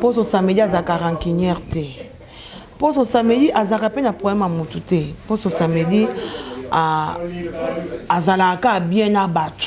Poso samedi azalaka rancunier te poso samedi azalaka pe na problème ya mutu te poso samedi ah, azalaka kaka bien na batu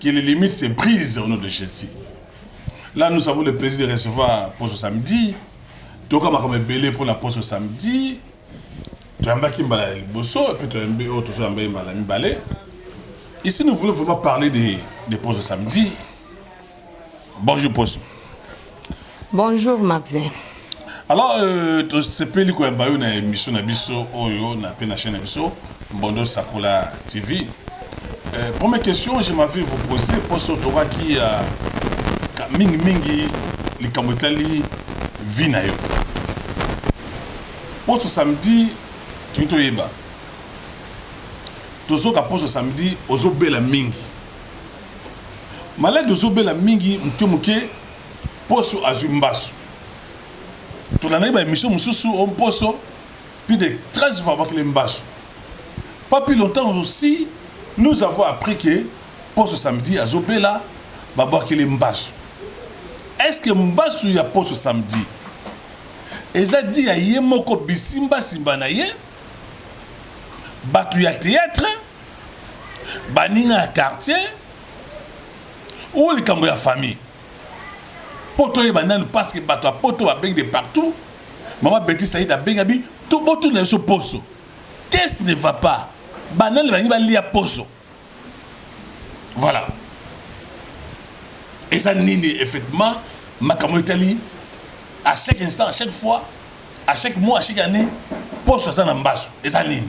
que les limites se brisent au nom de Jésus. Là, nous avons le plaisir de recevoir pour ce samedi. Toka makambo ebele pour la pour ce samedi. Toyambaki mbala ya liboso et puis toyambi oyo tozoyamba ye mbala mibale. Ici, nous voulons vraiment parler de, de pour ce samedi. Bonjour Poso. Bonjour Maxin. Alors euh, tosepeli koyamba yo na émission na biso oyo na pe na chaîne na biso Mbondo Sakola TV. Euh, première question je m'avais vous poser Poso tokaki ya euh, mingi mingi likambo etali vie na yo. Poso samedi toyeba toyeba tozoka poso samedi ozobela mingi Maladi ozo bela mingi muke muke poso azwi mbasu tolandaki ba emission mususu o mposo plus de 13 fois abakile mbasu pas plus longtemps aussi nous avons appris que poso samedi azo bela babwakile mbasu est ce que mbasu ya poso samedi eza di ya ye moko bisimbasimba na ye bato ya théâtre baninga ya quartier ou likambo ya famille mpo toyeba nanu parce que bato ya poto babengi de partout mama beti said abengi abi to botuna biso poso qu'est-ce ne va pas banani balingi balia poso voilà eza nini effectivement makambo etali à chaque instant à chaque fois à chaque mois à chaque année poso aza na mbaso eza nini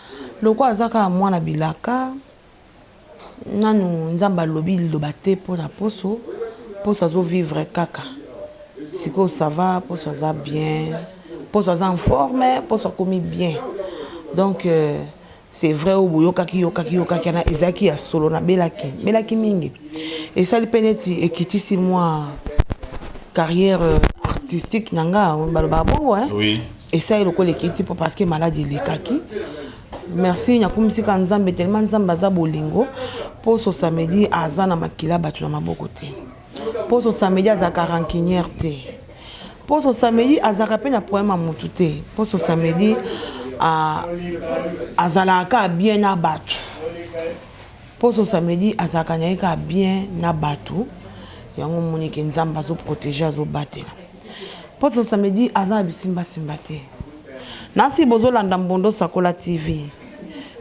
Lokola aza kaka mwana bilaka nanu nzambe alobi liloba te pona poso poso azo vivre kaka sikoyo ça va poso aza bien poso aza en forme poso akomi bien donc c'est vrai oyo boyokaki yokaki yokaki wana ezalaki ya solo na belaki belaki mingi esali pe neti ekitisi mua carrière artistique na nga balobaka bongo hein Esali lokola ekiti po parce que malade elekaki. Merci nakumisi ka Nzambe tellement Nzambe aza bolingo. Poso samedi aza na makila bato na maboko te. Poso samedi azalaka rancunière te. Poso samedi azalaka pe na problème ya mutu te. Poso samedi a azalaka ka bien na bato. Poso samedi azalaka naye kaka bien na batu yango omoni ke nzambe azo protege azo batela poso samedi aza na bisimba simba te nasi bozo landa mbondo sakola TV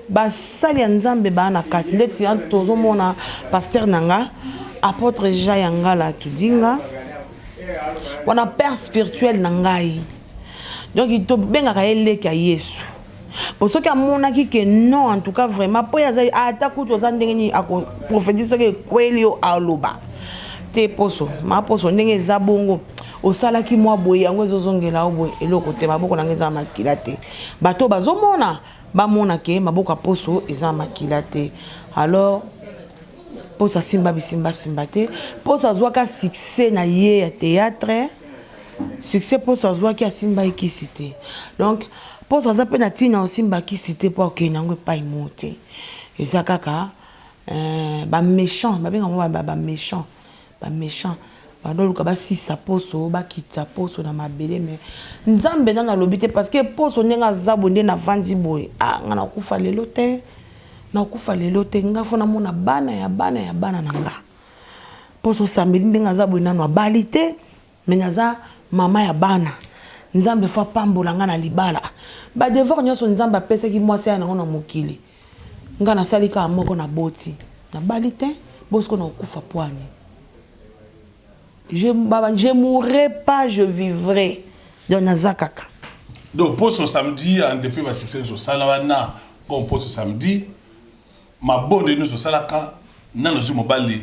ba sali ya nzambe ba na kati ndeti tozo mona pasteur nanga apotre ja ya ngala tudinga wana père spirituel na ngai donc to bengaka ye leki ya yesu po soki amonaki ke non en tout cas vraiment po aza ata kutu oza ndenge nini ako prophétie soki ekweli yo aloba te poso ma poso ndenge eza bongo osalaki mwa boye yango ezozongela yo boye eloko te maboko na ngai eza makila te bato bazomona bamona ke maboko ya poso eza makila te alors poso asimba bisimbasimba te poso azwaka succès na ye ya théâtre succès poso azwaki asimbaki kisi te donc Poso aza pe na tina osimba kisi te po akokende yango epai moko te eza kaka eh, ba mechant babenga yango ba, ba, ba mechant ba mechant badoluka basisa poso bakitisa poso na mabele me nzambe nano alobi te parce que poso ndenge aza boye nde navandi boye ah nga nakufa lelo te nakufa lelo te nga fo namona bana ya bana ya bana na nga poso osambeli ndenge aza boye nano abali te Mais naza maman ya bana nzambe faut apambola nga na libala ba devoir nionso nzambe apesaki mwasi aya nango na mokili nga nasali kaka moko na boti na bali tein bo siko na kokufa pwani je baba je mourrai pas je vivrai donc naza kaka donc poso samedi en depuis ba succès nso sala wana bon poso samedi mabonde nso salaka nanu zui mobali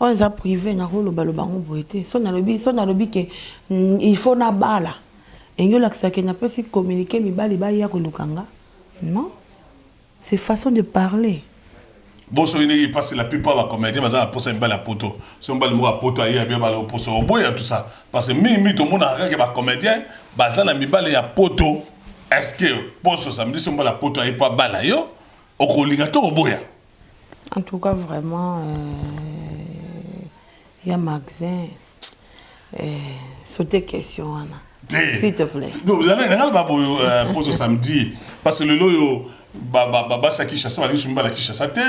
Oyo eza prive nako loba loba ngo boye te. So nalobi so nalobi ke il faut na bala. Elingi olakisa ke na pesi communique mibali baya koluka nga? Non. C'est façon de parler. Bo soki nde parce que la plupart ba comedien baza na posa ya mibali ya poto soki mobali moko ya poto aye abia bala oposa oboya tout ça parce que mingi mingi tomonaka kaka ke ba comedien baza na mibali ya poto est ce que poso samedi soki mobali ya poto aye po abala yo okolinga to oboya En tout cas vraiment euh, ya Maxin euh, sauter question wana s'il te plaît. Nanga ba boyo euh, poto samedi parce que lelo yo ba ba ba basa Kinshasa ba lisu mbala Kinshasa te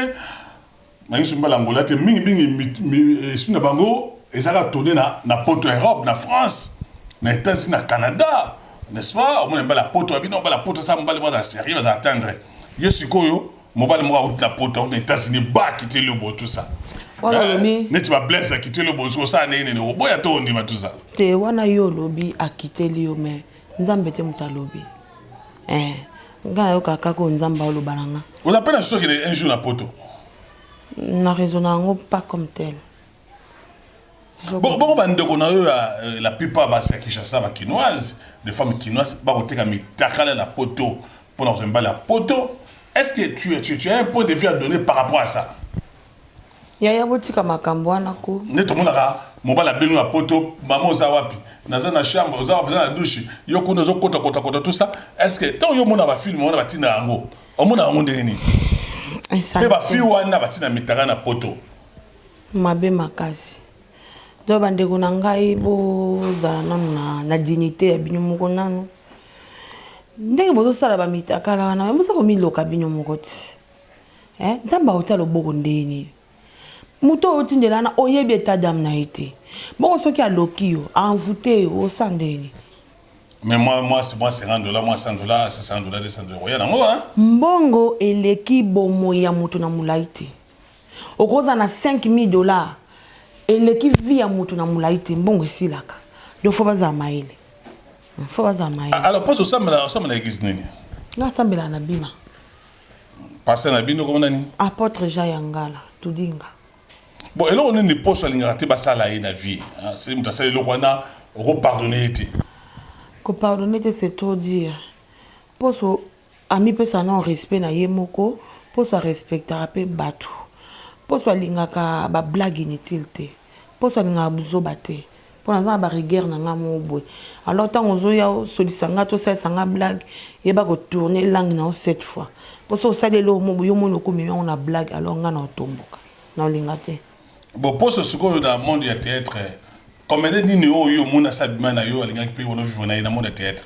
ba lisu mbala Angola te mingi mingi esprit na bango ezaka tourner na na poto Europe na France na États-Unis na Canada n'est-ce pas omona mbala poto abino mbala poto sa mbala mwana sérieux baza atteindre yo sikoyo Mobali moko awuti na poto awuti na Etats-Unis ba akiteli yo bo tout ça. Wana Eh, olobi Neti ba blesse akiteli yo bo osi kosala ndenge nini oboya to ondima tout ça. te wana yo olobi akiteli yo me nzambe te moto alobi eh, nga nayokaka kaka oyo nzambe aoloba na nga Oza pe na susi okende un jour na poto. na raisona yango pas comme tel Bo- Bongo ba ndeko na yo ya euh, la plupart basi ya Kinshasa ba kinoise, des femmes kinoise bakoteka mitakala na poto. Pona kozwa mibali ya poto est ce que tu, tu, tu as un point de vue à donner par rapport à ça? Yaya botika makambo wana ko. Nde tomonaka mobali abengi na poto, mama oza wapi? Naza na chambre, oza wapi? Oza na douche, yo kuna ozo kota kota kota tout ça. Est ce que tant yo mona ba film wana batinda yango, omona yango ndenge nini? Pe ba fille wana batinda mitaka na poto. Mabe makasi. Donc bandeko na ngai bozala nanu na, na dignité ya bino moko nanu. ndenge bozosala bamitakala wana me boza komiloka bino moko ti eh, nzambe akotia loboko ndenge nini moto oyo otindela wana oyebi eta dame na ye te bongo soki aloki yo envoute yo osa ndenge nini mais moi moi c'est moi 50 dollars moi 100 dollars 100 dollars 200 dollars oya nango hein mbongo eleki bomoyi ya moto na mulayi te Okozala na 5000 dollars eleki vie ya mutu na mulayi te mbongo esilaka donc faut bazala mayele hmm, faut bazala mayele. Alors pose osambela osambela eglise nini? Nga sambela na bima. Pasteur na bino komona nini? Apotre Jean Yangala tudinga. Bon eloko nini poso alingaka te basala ye na vie? Hein? C'est mutu asala eloko wana oko pardonner ye te. Ko pardonner te c'est trop dire. Poso Amipesa non respect na ye moko mposo a respectaka mpe batu, mposo alingaka ba blagues inutiles te, mposo alingaka buzoba te, mpo naza na ba rigueurs na ngai moko boye, alors tango ozoya osolisa ngai to osalisa ngai blague, yeba ko tourner langue na yo sept fois, mpo soki osali eloko moko boye yo moko okomema yango na blague alors ngai nako tomboka, nako linga te. Bon mposo sikoyo na monde ya theatre comedien nini oyo yo omoni asi abima na yo alingaki mpe yo o vivre na ye na monde ya theatre?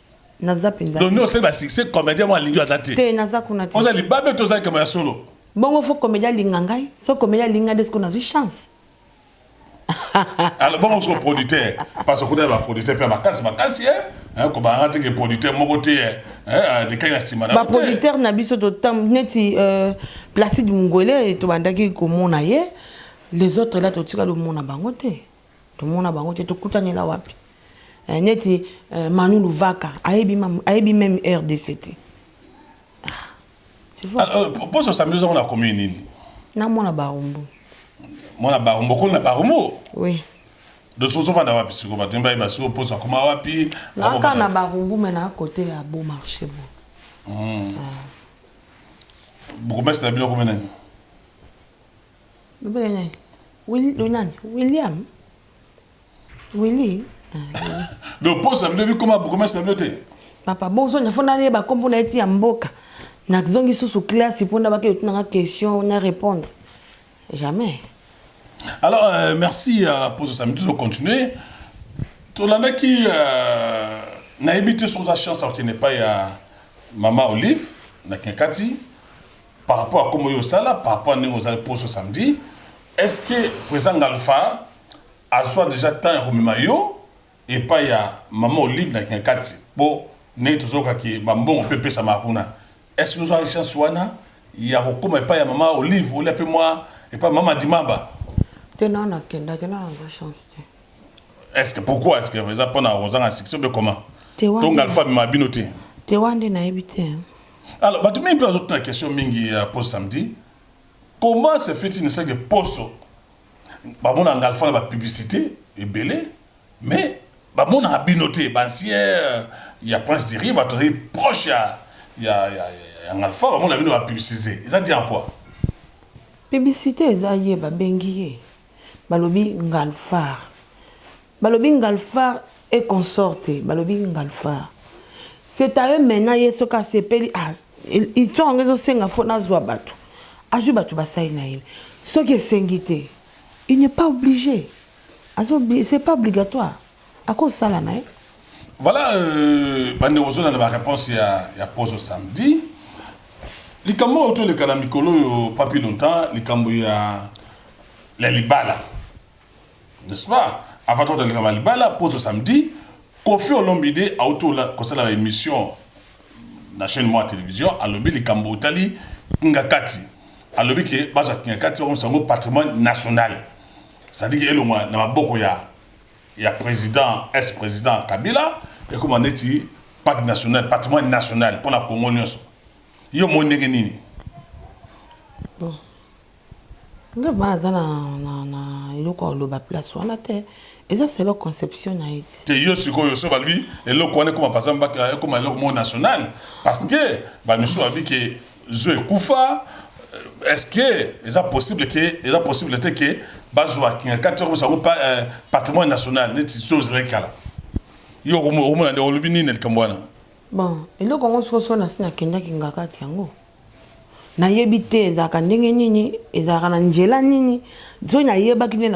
naza penza donc nde osali ba succès comédien mwa alingi aza te te naza kuna te oza libabe to ozali kama ya solo bongo fo comédien alinga ngai so comédien alingi ngai nde siko nazwi chance alors bongo siko producteur parce okutani ba producteur mpe makasi makasi e eh, kobanga te ke producteur moko te eh, eh, likaki na nsima na baproducteur na biso totam neti euh, placide mungwele tobandaki komona ye les autres la totika lomona bango te Tomona bango te tokutanela wapi? Eh, neti eh, Manu Luvaka ayebi ayebi meme RDC te. Ah, tu vois. Alors, euh, pour ce samedi on a commune nini? Na mwana Barumbu. Mwana Barumbu ko na Barumbu? Oui. De ce sofa na wapi siko bato mbaye basiko posa koma wapi? Na ka na Barumbu mais na côté ya beau marché bo. Mm. Ah. Bokomesana bino komena nini? Lobenga nani? Willy, le nani? William? Willy? Ah, Willy. Donc poste na bino bikoma bourgmestre na bino te? Papa bozo na fona neba kombo na eti ya mboka. Na zongi susu classe pour na baki otuna question na répondre. Jamais. Alors euh, merci à poste samedi de continuer. Tolandaki euh, nayebi te soki oza chance akende epai ya mama Olive na Kinkati. Par rapport ya kombo oyo osala, par rapport ya ndenge ozalaki poso samedi, est ce que President Ngalfa azua dejà temps ya komema yo epayi ya Mama Olive na Kingakati? Po ndenge tozoyoka que ba mbongo pe epesamaka kuna, est ce que ozuaki chance wana ya kokoma epayi ya Mama Olive olia pe mua epayi ya Mama Dimaba? Te, non, nakendaki, nanga yango chance te. Est ce que pourquoi? Est ce que eza pona kozanga succès ou bien comment? Te, wana. To Ngalfa amemaka bino te? Te, wana nde nayebi te. Alors, bato mingi mpe bazotuna question mingi ya poso samedi. Comment se fait-il que poso bamona ngalfa na ba publicité ebele mais bamonaka bino te bancien euh, ya prince de riba tozali proche ya ya ya ya ngalfa bamona bino ba publicité eza dit en quoi publicité eza ye babengi ye balobi ngalfar Balobi ngalfar et consort te balobi ngalfar c'est à eux maintenant ye soki asepeli ah histoire yango ezo senga faut nazua batu azui batu basali na ye soki esengi te il n'est pas oblige azo c'est pas obligatoire ako sala na ye Voilà euh, bande ozona na ba réponse ya ya pozo samedi likambo oyo toleka na mikolo oyo papi longtemps likambo ya la libala N'est-ce pas? Avant to taleka ma libala poso samedi koffi olombide auto la kosala ba emission na chaine moi television alobi likambo otali kingakati alobi ke bazwa kingakati bakomisa yango patrimoine national ça dit ke elongwa na maboko ya ya president est president kabila ekoma neti parc national patrimoine national pona congo nionso yo omoni ndenge nini bon Nga vraiment naza na na na eloko ya koloba place wana te eza selon conception na ye ti. Te yo sikoyo soki balobi eloko wana ekoma par exemple baka ekoma eloko moko national parce que ba misusu balobi ke zoo ekufa est ce que eza possible ke eza possible te ke bazua kingakati bakomisa yango pa patrimoine national neti zoo ezalaki kala yo okomo okomona nde olobi nini na likambo wana. Bon eloko yango soki soki nasi nakenda kingakati yango. Nayebi te ezalaka ndenge nini, ezalaka na njela nini, soki nayebaki nde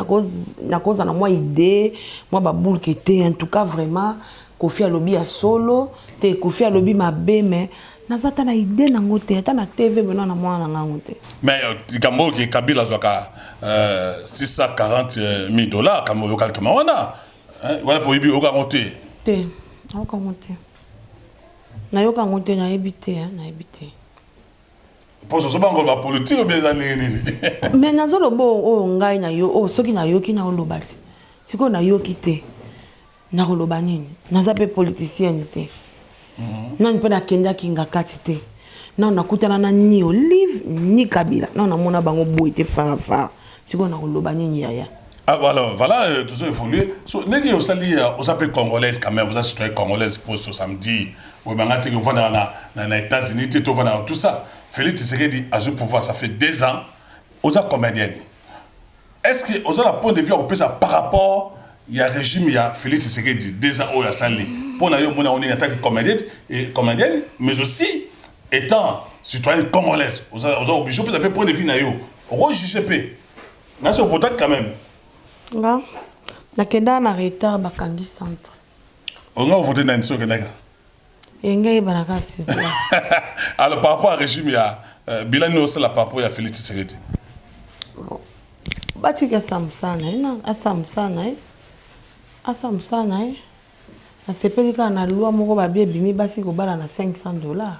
nakozala na mwa idee, mwa ba boule que te, en tout cas vraiment Koffi alobi ya solo, te Koffi alobi mabe mais naza ata na idee nango te, ata na TV boye naza namona nanga yango te. Mais likambo oyo que Kabila azwaka 640 milles dollars, kambo oyoka likambo wana? Wana pe oyebi, oyoka yango te? Te, nayoka yango te. Nayoka yango te nayebi te hein nayebi te. Poso ozo banga koloba politique obi eza ndenge nini? Mais nazo loba oyo ngai na yo oyo soki nayoki na oloba te sikoyo nayoki te nakoloba nini naza pe politicienne te nani pe nakendaki ngakati te nano nakutana na ni olive ni kabila nano namona bango boye te farafara sikoyo nakoloba nini yaya Ah, alors voilà, euh, tout ça évolue. So, negi osali euh, oza pe congolaise quand même, oza citoyen congolaise pour ce samedi. Oui, mais ngati on va dans la dans les États-Unis, tu vas dans tout ça. Félix Tshisekedi a ce pouvoir, ça fait deux ans. Oza comédienne. Est ce que oza na point de vue ya kopesa par rapport ya regime ya Felix Tshisekedi deux ans oyo asali mpo na yo omoni yango ndenge ataki comedienne et comedienne mais aussi étant citoyenne congolaise oza oza obligé opesa mpe point de vue na yo oko juger mpe na so votaki quand même nga nakendaka na retard bakangi centre olinga ovote nani so okendaka Yenge ayeba na ka sur place. Alors par rapport à régime ya euh, bilan nini osala par rapport ya Felix Tshisekedi? Bon. Batiki asambusa na ye na asambusa na ye. Asambusa na ye. Asepeli kaka na loi moko babie bimi basi kobala na 500 dollars.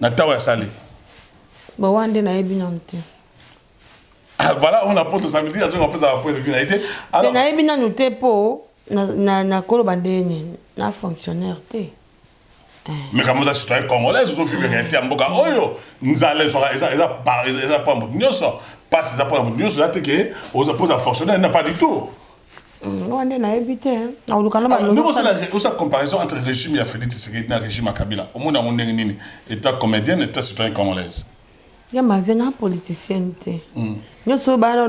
Na tawa ya sale. Ba wana nde nayebi nanu te. Ah, voilà, on a posé ça veut dire azonga après avoir point de vue na été. Alors nayebi nanu te po na na na kolo bandeni na fonctionnaire te. Eh. Mais comme ça citoyen congolais, zo vivre réalité ya mboka oyo nzala ezwaka eza eza eza pa moto nyonso, pasi eza pa moto nyonso, eza te ke oza poza fonctionnaire na pas du tout. Moi, nde nayebi te nakoluka na balosa comparaison entre régime ya félix tshisekedi na régime ya kabila omona yango ndenge nini état comédienne état citoyen congolaise ya maze na politicienne te hmm. nyonso bana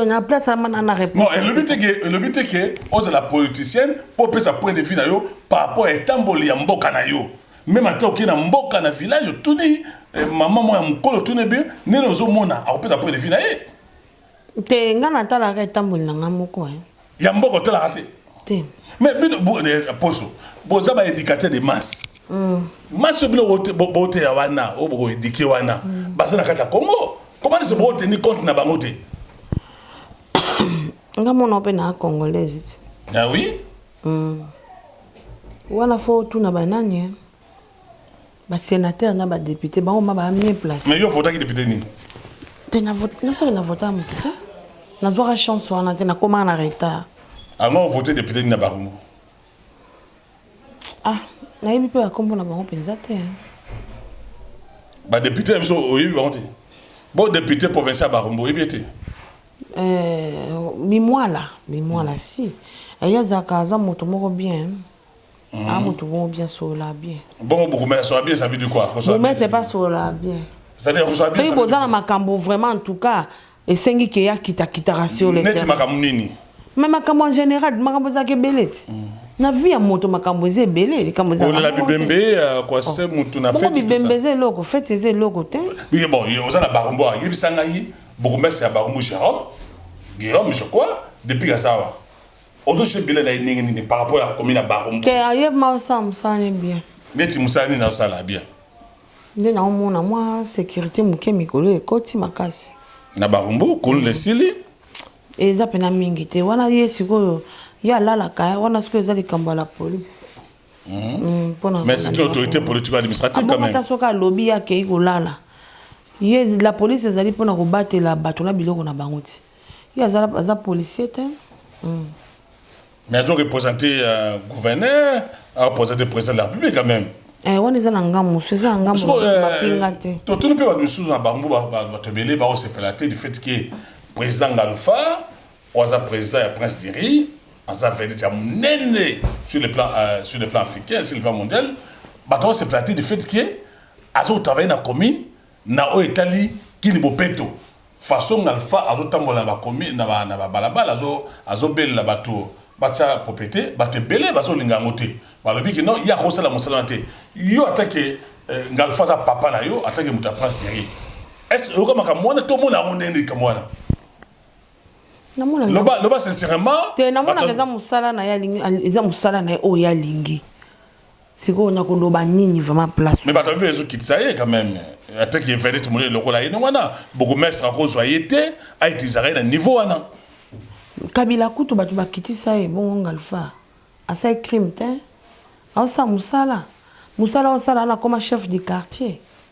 na place amana na réponse elobi te ke elobi te ke ozala politicienne mpo opesa point de vue na yo par rapport ya etamboli ya mboka na yo meme ata okei na mboka na village otuni eh, mama moko ya mokolo otuni ebe nini ozomona akopesa point de vue na ye Te nga na talaka etamboli na nga moko eh. Ya mboko talaka te. Te. Mais bino bo eh, poso boza ba éducateur de masse. Mm. Masse oyo bino bote bote ya wana oyo boko éduquer wana mm. baza na kati ya Congo. Comment est-ce bo tenir compte na bango te? Nga mona pe na congolaise. Ah oui? Mm. Wana fo tuna banani eh. Ba senateurs na ba deputes bango ma ba mieux place. Mais yo votaki depute nini? Te na vote na soki na vota moto te. Na zwaka chance wana te na koma na retard. Ango ah, vote depute nini na Barumbu? Ah, nayebi mpe bakombo na bango mpenza te. Badepute na biso oyebi bango te? Bo depute provincial ya Barumbu oyebi ye te? Eh, bimwala bimwala si aye azalaka aza moto moko bien Mm. Ah, mutu bongo bien solola bien. Bongo bokomela solola bien ça veut dire quoi? Kosolola bien. c'est pas solola bien. C'est-à-dire kosolola bien. Soki boza na makambo vraiment en tout cas esengi ke ya kita kitaka sur le terrain. Neti makambo nini? Mais makambo en général makambo ezalaka ebele ti. Mm. na vie ya moto makambo eza ebele likambo ezala bibembe euh, kwa oh. se motu na fete bibembe eza eloko fete eza eloko te bon oza na barombo ayebisa ngai bokomese ya barombo jérôme guillaume je crois depuis kasawa Ozo jouer bile na ye ndenge nini par rapport ya komi na baro? Te ayebi ma osala mosala ne bien. Neti mosala nini asala bien? Nde na omona mwa securite moke mikolo ekoti makasi. Na barumbu kolo na esili. Eza pena mingi te wana ye sikoyo ye alalaka eh, wana sikoyo eza likambo ya la police. Mm. Mm, mais c'est une autorité politique administrative ah, quand même. Soki alobi ye akei kolala ye la police ezali mpona kobatela bato na biloko na bango ti Ye aza aza policier te hum. Mais azo representer euh, gouverneur, a representer président de la République quand même. Eh, wana eza na ngambo mosusu eza na ngambo mapinga euh, te totuni mpe bato misusu na bango bato ebele baosepela te du fait ke président ngalfa oyo aza président ya prince diri aza vedite ya monene sur le plan euh, sur le plan africain sur le plan mondial bato baosepela te du fait ke azotravaille na commune na oyo etali kini bopeto Façon ngalfa azo tambola ba commune na ba na ba balabala azo azo belela batu batia proprete batu ebele bazo linga yango te balobi que non ye akoki kosala musala wana te yo ata que ngalfa aza papa na yo ata que mutu ya prince Thierry est ce oyoka makambo wana to omona yango ndenge nini likambo wana namonaka loba loba sincèrement te namonaka eza musala na ye alingi eza musala na ye oyo ye alingi sikoyo nakoloba nini vraiment place mais bato babe ezokitisa ye quand même ataki evedete monene lokola ye ndenge wana bourgmestre akozwa ye te aitilisaka ye na niveau wana kabila kutu bato bakitisa ye bongo ngalfa asali crime te aosala mosala mosala osala nakoma chef du quartier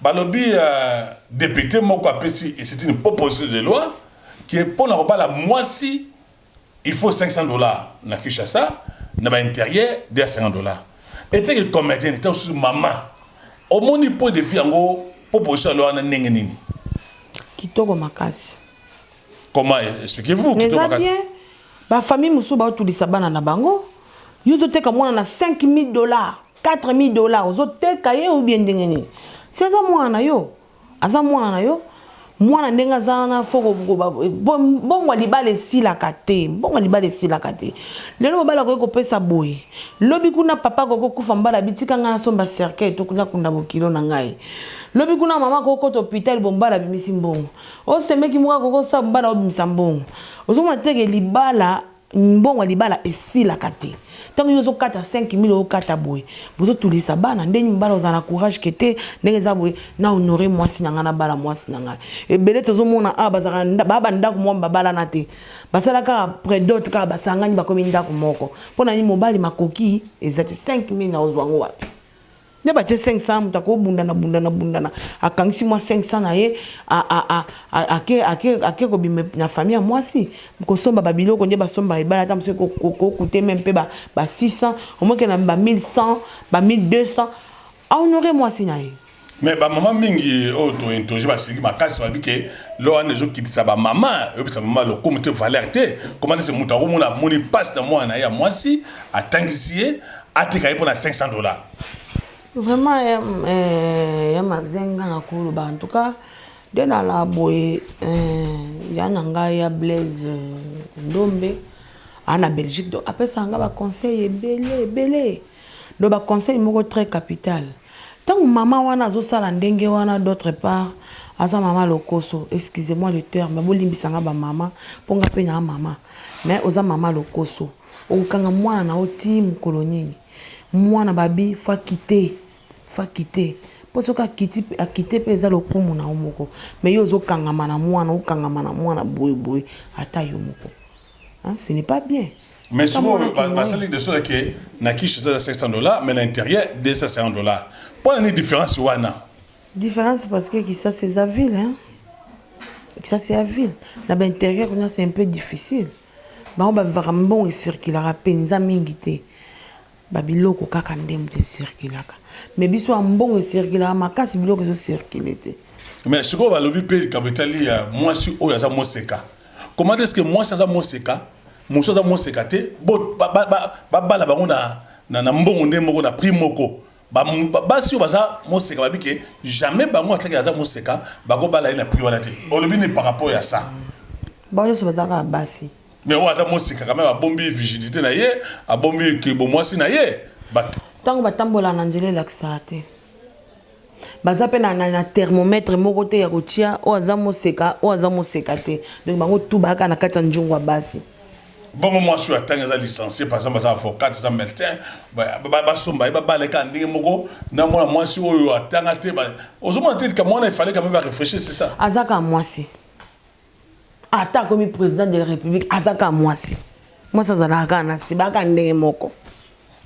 Balobi depute moko apesi et c'est une proposition de loi que pona kobala mwasi il faut 500 dollars na Kinshasa na ba interieur de 50 dollars ete que comedienne to su mama omoni point de vue yango proposition ya loi na ndenge nini kitoko makasi comment expliquez-vous kitoko makasi ba famille mususu ba tulisa bana na bango yo zoteka mwana na 5000 dollars 4000 dollars ozo teka ye ou bien ndenge nini si aza mwana na yo aza mwana na yo mwana ndenge aza wana fo mbongo ya libala esilaka te mbongo ya libala esilaka te lelo mobali akoki kopesa boye lobi kuna papa akoki kokufa mbala bitika ngai nasomba cercueil to kuna kunda bokilo na ngai lobi kuna mama akoki kokota hôpital bo mbala abimisi mbongo osemeki moko akoki kosala mbala obimisa mbongo ozomona teke libala Mbongo ya libala esilaka te. Tango yo ozo kata 5000 ozo kata boye. Bozo tulisa bana nde mibala ozala na courage que te ndenge eza boye na honore mwasi na ngai na bala mwasi na ngai. Ebele tozo mona awa bazalaka ba ba ndaku moko ba balana te. Basala kaka pre dot kaka ba sangani bakomi ndaku moko. Pona nini mobali makoki eza te 5000 nao zua yango wapi. Nde ba tie 500 mutu ako bundana bundana bundana akangisi mwa 500 na ye a a a ake ake ake kobima na famille ya mwasi kosomba ba biloko nde basomba ebala ata mosusu ko coute meme mpe ba ba 600 omoke na ba 1100 ba 1200 a honore mwasi na ye mais ba mama mingi oyo to interroge basiliki makasi babi ke lo wana ezokitisa ba mama oyebisa mama lokumu te valeur te komana se moto akomona amoni mpasi na mwana na ye ya mwasi atangisi ye Atika ye pona 500 dollars. Vraiment ya eh, ya mazenga na koloba en tout cas de na la boye eh, ya na ngai ya Blaise eh, Ndombe ana Belgique donc apesa nga ba conseil ebele ebele donc ba conseil moko très capital ntango mama wana azosala ndenge wana d'autre part aza mama lokoso excusez-moi le terme bolimbisa nga bamama mpo nga mpe naa mama mais oza mama lokoso Okokanga mwana na yo tii mokolo nini? Mwana babi il faut akite, il faut akite po soki akiti akite pe eza lokumu na yo moko mais yo ozo kangama na mwana okangama na mwana boye boye ata yo moko hein ce n'est pas bien. Mais Ata mwana sikoyo ba- akende basali de sorte que na kishi eza 500 dollars mais na interieur 250 dollars mpo na nini différence wana Différence parce que Kisasi eza ville hein. Kisasi ya ville. Na ba intérieur kuna c'est un peu difficile. Bango ba vivaka mbongo e circulaka penza mingi te ba biloko kaka nde moto e circulaka mais biso awa mbongo e circulaka makasi biloko ezo circuler te. Mais sikoyo ba lobi pe likambo etali ya mwasi oyo aza moseka comment est ce que mwasi aza moseka mosusu aza moseka te ba bala bango na mbongo nde moko na prix moko? Ba basi oyo baza moseka babi ke jamais bango atlaki aza moseka bako bala ye na prix wana te olobi nini par rapport ya sa. Bango nionso baza kaka basi. Mais oyo aza moseka quand meme abombi vigilite na ye abombi ke bo mwasi na ye batu. Tango ba tambola na nzela elakisaka te baza pe na na thermomètre moko te ya kotia oyo aza moseka oyo aza moseka te donc bango tout baya kaka na kati ya nzungu ya basi. Bongo mwasi oyo atangi aza licencie par exemple aza avocate aza medecin basomba ye babala ye kaka ndenge moko na mwana mwasi oyo atanga te ozomona te likambo wana efale kame bareflechir c'est ça aza kaka mwasi ata akomi président de la république aza kaka mwasi mwasi azalaka kaka na se baka ndenge moko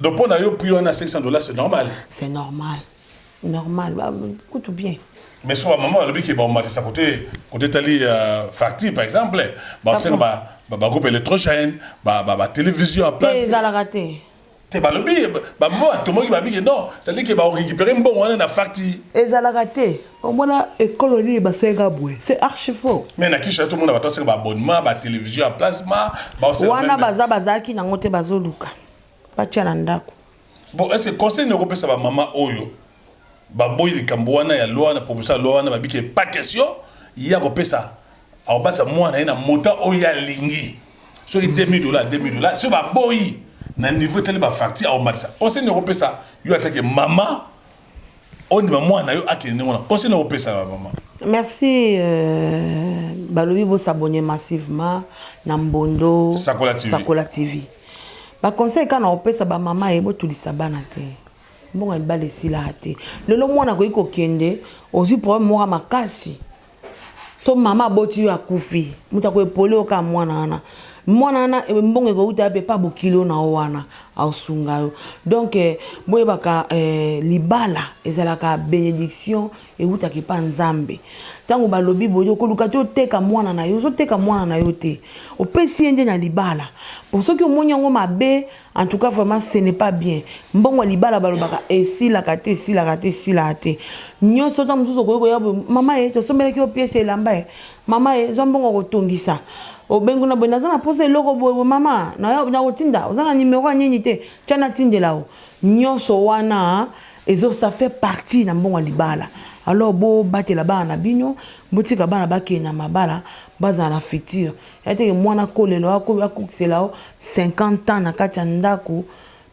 donc mpo na yo prix wana 500 dollars c'est normal c'est normal Normal ba kutu bien. Mais sur la maman alobi ke ba omatisa côté côté tali euh, facture par exemple ba senga ba ba, ba groupe électrogène ba ba, ba télévision à place. Ezalaka te. Te balobi ba maman atomoki ba biki non, ça dit que ba récupérer mbongo wana na facture. Ezalaka te. Omona ekolo nini ba senga boye. C'est archi faux. Mais na kisha tout le monde ba senga ba abonnement ba télévision à place ma ba senga. Wana baza bazaki nango te bazoluka. Batia na ndako. Bon est ce que conseil nini okopesa ba maman oyo baboyi likambo wana ya loi wana proposition ya loi wana babi ke pas question ye akopesa akobatisa mwana ye na montant oyo ye alingi soki 2000 dollars 2000 dollars soki baboyi na niveau etali ba facture akomatisa conseil nini okopesa yo atake maman ondima mwana yo akende ndenge wana conseil na opesa ba mama merci euh, balobi bosabone massivement na mbondo sakola tv, sakola TV. baconseil kaka na opesa bamama ye botulisa bana te mbongo ya libala esilaka te lelo mwana akoki kokende ozwi problème moko makasi to mama aboti yo akufi moto akoepole oka mwana wana mwana wana eh, mbongo ekouta yape pa bokilo na yo wana aosunga yo donk eh, boyebaka eh, libala ezalaka benediction ewutaka epa nzambe ntango balobi boye okoluka te oteka mwana na yo ozoteka mwana na yo te opesi ye nde na libala po soki omoni yango mabe En tout cas vraiment ce n'est pas bien mbongo ya libala balobaka esilaka te esilaka te esilaka te nyonso ntango mosusu okoki koya boye mama ye tosombelaki yo piese elamba ye mama ye zwa mbongo kotongisa obengi na boye naza na mposa eloko boye boye mama nakotinda oza na nimero ya nini te tya natindela yo nyonso wana ezo ça fait partie na mbongo ya libala alors bobatela bana na bino botika bana bakende na mabala bazala na future Yaya teke muana akolela yo akokisela yo 50 ans na kati ya ndaku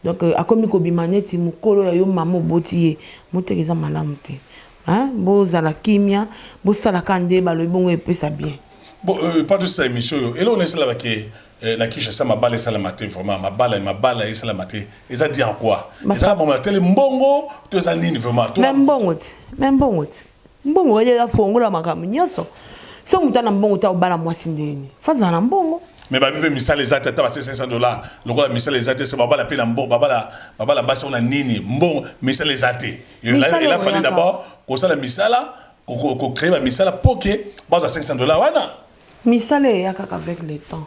donc akomi kobima neti mukolo ya yo mama oboti ye moteke eza malamu te hein bozala kimia bosala kaka nde balobi bongo epesa bien. Bon epa tosila emission oyo eloko nini esalama ke na Kinshasa mabala esalama te vraiment mabala mabala esalama te eza dit en quoi eza mawa tele mbongo to eza nini vraiment to. Mais mbongo ti mais mbongo ti. Mbongo kadi eza fongola ya makambo nyonso. Soki moto aza na mbongo te akobala mwasi ndenge nini? Fo azala na mbongo. Mais babi mpe misala eza te ata batie 500 dollars lokola misala eza te se babala mpe na mbongo babala babala basi yango na nini mbongo misala eza te Misala ela fallait oyaka. d'abord kosala misala ko- ko- ko créer ba misala mpo ke bazwa 500 dollars wana Misala eya kaka avec le temps.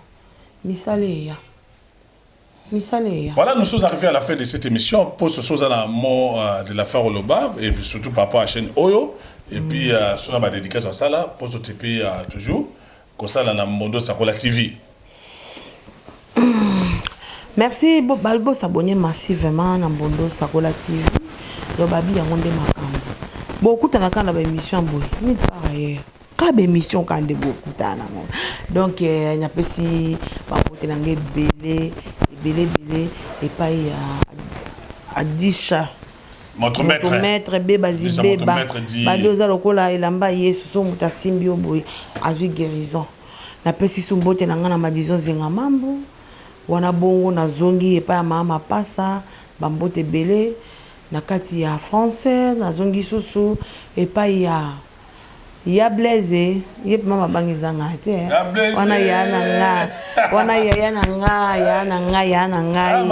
Misala eya. misala eya. Voilà nous sommes arrive à la fin de cette emission po soso oza na mot de la fin oloba et puis surtout par rapport à chaine oyo et puis soso na ba dedicace osala po so tipi toujours kosala na mbondo sakola TV. Merci bo ba bo s'abonner massivement na mbondo sakola TV lobabi yango nde makambo bo kutana kaka na ba emission boye nulle part ailleurs. ka ba émission ka nde bokutana na yango donc eh, napesi bakote na ngai ebele ebele ebele epai ya adisha moto maître bebazi beba bande oza lokola elamba yesu so moto asimbi yo boye azwi guérison napesi su mbote na ngai na madison zenga mambo wana bongo nazongi epai ya mama mapasa bambote ebele na kati ya français nazongi susu epai ya Ya blaise ye pema mabanga eza nga te wana ya na nga wana yaya na nga ya na nga ya na ngai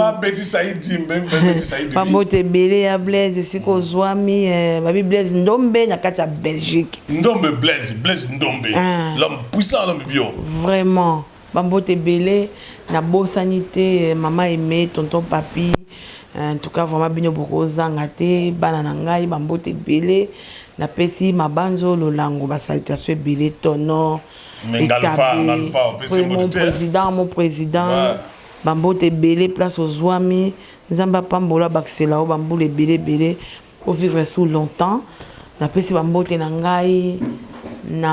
babote ebele ya blaise esika ozwami eh, babi blaise ndombe na kati ya belgique ndombe blaise blaise ndombe ah. l'homme puissant l'homme bio vraiment Ba mbote ebele na bosani te maman aime tonton papy en tout cas vraiment bino boko zanga te bana na ngai ba mbote ebele na pesi mabanzo lolango ba salutations ebele tono etabe mon president mon president ba mbote ebele place ozuami nzambe apambola abakisela yo ba mbula ebele ebele o vivre sous longtemps na pesi ba mbote na ngai na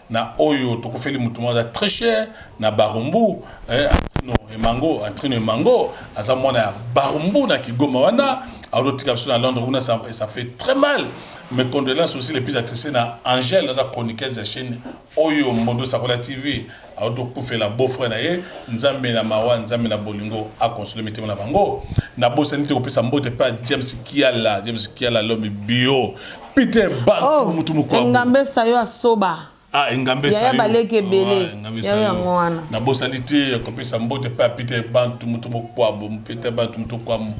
na oyo tokufeli mutu moko aza très cher na barumbu eh, antrino emango antrino emango aza mwana ya barumbu na kigoma wana aozotika biso na londres kuna ça, ça fait très mal mes condoléances aussi les plus attristées na angèle aza chroniqueuse ya chaîne oyo modo sakola tv aotokufela beau frère na ye nzambe na mawa nzambe na bolingo akonsole mitema na bango nabosani te kopesa mbote mpe james kiala james kiala lomi bio Peter Bantu oh, mutu mukwabu. Engambe sayo asoba. Ah, engambe sayo. Yaya baleki ebele. Ah, engambe sayo. Yaya mwana. Na bosali te kopesa mbote pa Peter Bantu mutu mukwabu. Peter Bantu mutu mukwabu.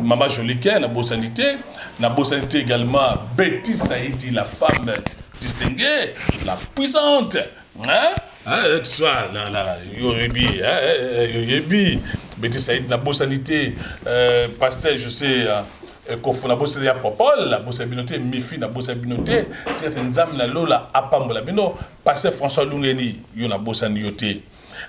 Mama Joliquin na bosali te. Na bosali te également Betty Saidi la femme distinguée, la puissante. yoyebi beti said nabosani te euh, pasteur je sais euh, euh, kofo nabosani ya popol nabosani bino te mifi nabosani bino te tika te nzambe na lola apambola bino pasteur françois lungeni yo nabosani yo te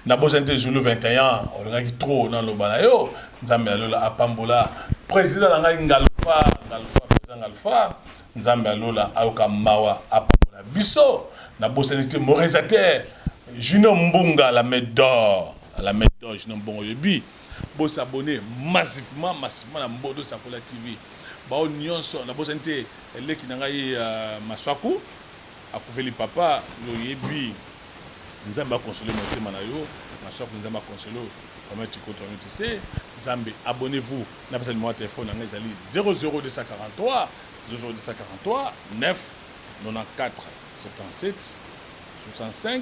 nabosani te zulu 21 ans olingaki trop naloba na yo nzambe na lola apambola président na ngai ngalfa ngalfa président ngalfa Nzambe ya lola ayoka mawa apambola biso na bosani te moresateur junior mbunga la main d'or la main d'or junior mbongo oyebi bo s'abonner massivement massivement na mbodo sakola TV bao nionso na bosani te leki na ngai masuaku akufeli papa yo oyebi nzambe a console motema na yo masuaku nzambe a console yo famille chikoto famille tise zambe abonnez vous. Na pesa numero ya telephone na nga ezali 007467